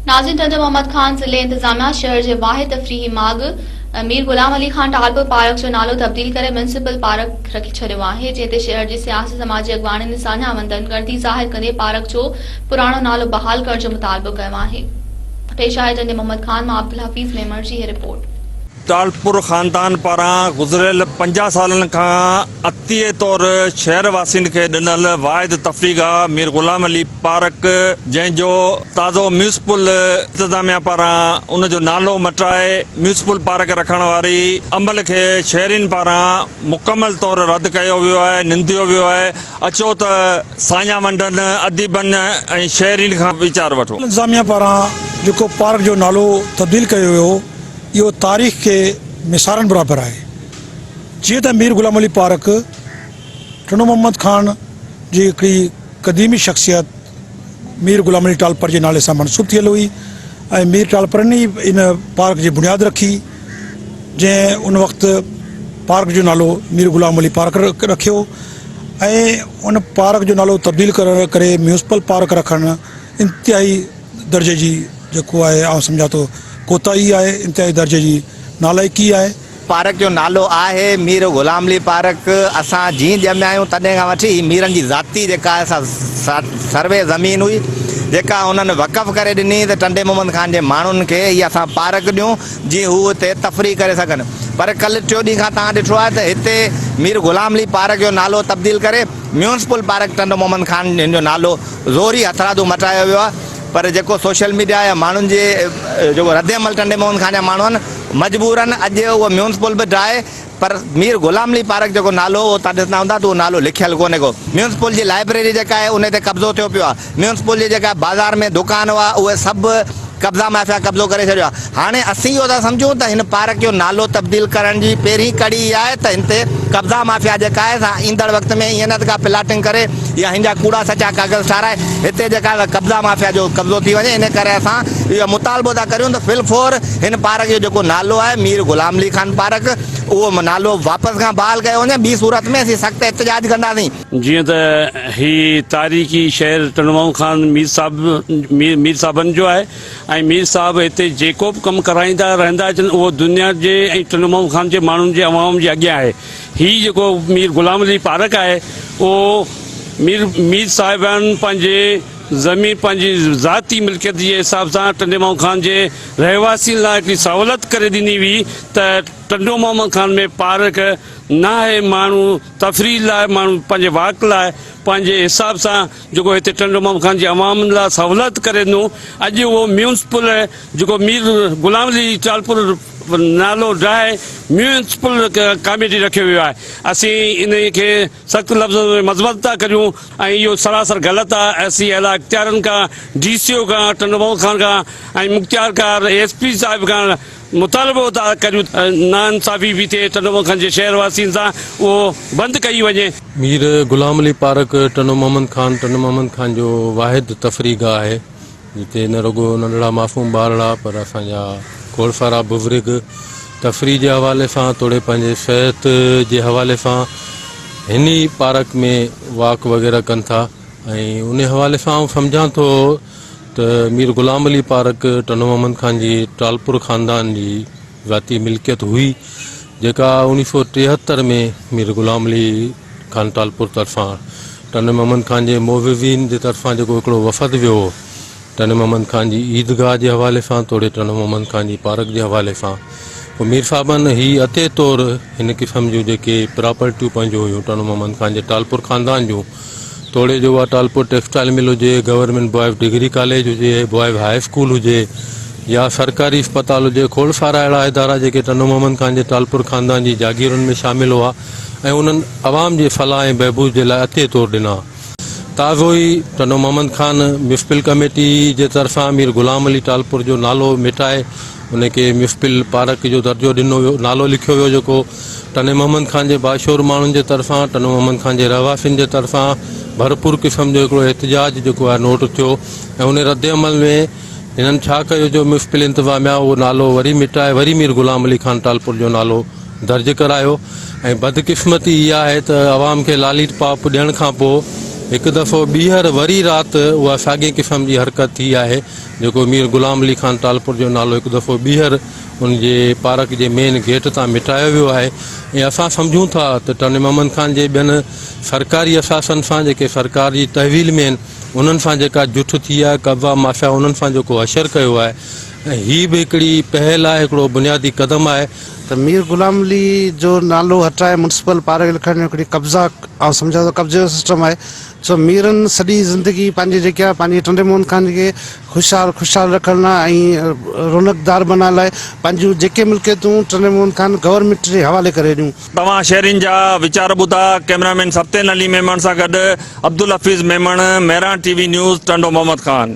ناظرين ٽنڊو محمد خان ضلعي انتظاميا شهر جي واحد تفريحي ماڳ مير غلام علي خان ٽالپر پارڪ جو نالو تبديل ڪري ميونسپل پارڪ رکي ڇڏيو آهي جنهن تي شهر جي سياسي سماجي اڳواڻن ۽ ساڃاهه وندن ڳڻتي ظاهر ڪندي پارڪ جو پراڻو نالو بحال ڪرڻ جو مطالبو ڪيو آهي ٽالپور خاندان پاران گذريل پنجاهه سالن کان عطيي طور شهر واسين کي ڏنل واحد تفريح گاهه مير غلام علي پارڪ جنهن جو تازو ميونسپل انتظاميا پاران ان جو نالو مٽائي ميونسپل پارڪ رکڻ واري عمل کي شهرين پاران مڪمل طور رد ڪيو ويو آهي ننديو ويو آهي اچو ته ساڃاهه ونڊن اديبن ۽ شهرين کان ويچار وٺون. انتظاميا پاران جيڪو پارڪ جو نالو تبديل ڪيو ويو. اهو تاريخ کي ميسارڻ برابر آهي. جيئن ته مير غلام علي پارک ٽنڊو محمد خان جي هڪڙي قديمي شخصيت مير غلام علي ٽالپر جي نالي سان منسوب ٿيل هئي ۽ مير ٽالپرن ئي ان پارڪ جي بنياد رکي جنهن ان وقت پارڪ جو نالو مير غلام علي پارڪ رکيو ۽ ان پارڪ جو نالو تبديل ڪري ميونسپل پارڪ رکڻ انتهائي درجي جي جيڪو آهي آئون سمجهان ٿو ڪوتاهي آهي انتهائي درجي جي نالائقي آهي. پارڪ جو نالو آهي مير غلام علي پارڪ اسان جين ڄميا آهيون تڏهن کان وٺي هي ميرن جي ذاتي جيڪا آهي سا سروي زمين هئي جيڪا انهن وقف ڪري ڏني ته ٽنڊي محمد خان جي ماڻهن کي هي اسان پارڪ ڏيون جي هو هتي تفريح ڪري سگهن پر ڪل ٽيو ڏينهن کان تهان ڏٺو آهي ته هتي مير غلام علي پارڪ جو نالو تبديل ڪري ميونسپل پارڪ ٽنڊو محمد خان هن جو نالو زوري هٿرادو مٽرايو ويو آهي پر جيڪو سوشل ميڊيا يا ماڻهن جي جيڪو ردعمل ٽنڊي موهن خان جا ماڻهو آهن مجبورا اڄ اهو ميونسپل به ڊاهي پر مير غلام علي پارڪ جيڪو نالو هو اهو توهان ڏسندا هوندا ته اهو نالو لکيل ڪونهي ڪو ميونسپل جي لائبريري جيڪا آهي انهي تي قبضو ٿيو پيو آهي ميونسپل جي جيڪا بازار ۾ دوڪان هئا اهي سڀ قبضا مافيا قبضو ڪري ڇڏيو آهي هاڻي اسين اهو ٿا سمجهون ته هن پارڪ جو نالو تبديل ڪرڻ جي پهرين ڪڙي اها آهي ته هن تي قبضا مافيا جيڪا آهي سا ايندڙ وقت ۾ ائين نه ته ڪا پلاٽنگ ڪري يا هن جا ڪوڙا سچا ڪاغذ ٺاهرائي هتي جيڪا آهي قبضا مافيا جو قبضو ٿي وڃي ان ڪري اسان اهو مطالبو ٿا ڪريون ته في الفور هن پارڪ جو جيڪو نالو آهي مير غلام علي خان پارڪ اهو نالو واپس کان بحال ڪيو وڃي ٻي صورت ۾ اسين سخت احتجاج ڪنداسين. جيئن ته هي تاريخي شهر ٽنڊوئون خان مير صاحب مير صاحبن جو آهي ۽ مير صاحب هتي جيڪو به ڪم ڪرائيندا رهندا اچن اهو دنيا جي ۽ ٽنڊوئون خان جي ماڻهن جي عوام جي اڳيان آهي هي جيڪو مير غلام علي پارڪ آهي اهو مير مير صاحبن پنهنجي زمين پنهنجي ذاتي ملڪيت جي حساب سان ٽنڊوئون خان جي رهواسين لاء هڪڙي سهولت ڪري ڏني هئي ته ٽنڊوئون خان ۾ پارڪ ناهي ماڻهو تفريح لاء ماڻهو پنهنجي واڪ لاء پنهنجي حساب سان جيڪو هتي ٽنڊو محمد خان جي عوام لاء سهولت ڪري ڏنو اڄ اهو ميونسپل جيڪو مير غلام علي ٽالپر نالو ڊاهي ميونسپل ڪاميٽي رکيو ويو آهي اسين ان کي سخت لفظن ۾ مذمت ٿا ڪريون ۽ اهو سراسر غلط آهي اسين اعليٰ اختيارن کان ڊي سي او کان ٽنڊو محمد خان کان ۽ مختيارڪار ايس پي صاحب کان مطالبو ٿا ڪريون ته ناانصافي به ٿئي ٽنڊومکن جي شهر واسين سان اهو بند ڪئي وڃي. مير غلام علي پارڪ ٽنڊو محمد خان ٽنڊو محمد خان جو واحد تفريح گاهه آهي جتي نه رڳو ننڍڙا معصوم ٻارڙا پر اسان جا گوڙسارا بزرگ تفريح جي حوالي سان توڙي پنهنجي صحت جي حوالي سان هن ئي پارڪ ۾ واڪ وغيره ڪن ٿا ۽ ان حوالي سان آئون سمجهان ٿو ته مير غلام علي پارڪ ٽنڊو محمد خان جي ٽالپور خاندان جي ذاتي ملڪيت هئي، جيڪا اوڻيهه سؤ ٽيهتر ۾ مير غلام علي خان ٽالپور طرفان ٽنڊو محمد خان جي معززين جي طرفان جيڪو هڪڙو وفد ويو هو، ٽنڊو محمد خان جي عيدگاهه جي حوالي سان توڙي ٽنڊو محمد خان جي پارڪ جي حوالي سان پوء مير صاحبن هي عطئي طور هن قسم جون جيڪي پراپرٽيون پنهنجون هيون ٽنڊو محمد خان جي ٽالپور خاندان جون توڙي جو اها ٽالپور ٽيڪسٽائيل مل هجي، گورنمينٽ بوائز ڊگري ڪاليج هجي، بوائز هاء اسڪول هجي يا سرڪاري اسپتال هجي، کوڙ سارا اهڙا ادارا جيڪي ٽنڊو محمد خان جي ٽالپور خاندان جي جاگيرن ۾ شامل هئا ۽ انهن عوام جي فلاح ۽ بهبود جي لاء عطيي طور ڏنا. تازو ئي ٽنڊو محمد خان ميونسپل ڪميٽي جي طرفان مير غلام علي ٽالپور جو نالو مٽائي ان کي ميونسپل پارڪ جو درجو ڏنو ويو، نالو لکيو ويو جيڪو ٽنڊي محمد خان جي باشعور ماڻهن جي طرفان ٽنڊو محمد خان جي رهواسين جي طرفان ڀرپور قسم جو هڪڙو احتجاج جيڪو آهي نوٽ ٿيو ۽ ان رد عمل ۾ هنن ڇا ڪيو جو ميونسپل انتظاميا اهو نالو وري مٽائي وري مير غلام علي خان ٽالپر جو نالو درج ڪرايو ۽ بدقسمتي اها آهي ته عوام کي لاليٽ پاپ ڏيڻ کان پوء هڪ دفعو ٻيهر وري رات اها ساڳئي قسم جي حرڪت ٿي آهي جيڪو مير غلام علي خان ٽالپر جو نالو هڪ دفعو ٻيهر ان جي پارڪ جي مين گيٽ تان مٽايو ويو آهي ۽ اسان سمجهون ٿا ته ٽنڊي محمد خان جي ٻين سرڪاري اثاثن سان جيڪي سرڪار جي تحويل ۾ آهن انهن سان جيڪا جٺ ٿي آهي قبضا ماشا انهن سان جيڪو حشر ڪيو آهي ۽ هي به هڪڙي پهل آهي هڪڙو بنيادي قدم آهي ته مير غلام علي جو نالو هٽائي ميونسپل پارڪ لکرائڻ جو هڪڙي قبضا آئون سمجهان ٿو قبضي جو سسٽم آهي سو ميرن سڄي زندگي پنهنجي جيڪي آهي پنهنجي ٽنڊي موهن خان کي خوشحال خوشحال رکڻ لاء ۽ رونقدار بنائڻ لاء پنهنجون جيڪي ملڪيتون ٽنڊي موهن خان گورنمينٽ جي حوالي ڪري ڏنيون. توهان شهرين جا ويچار ٻڌا، ڪئميرامين سبطين علي ميمڻ سان گڏ Abdul Hafeez Memon, Mehran T V news, Tando Muhammad Khan.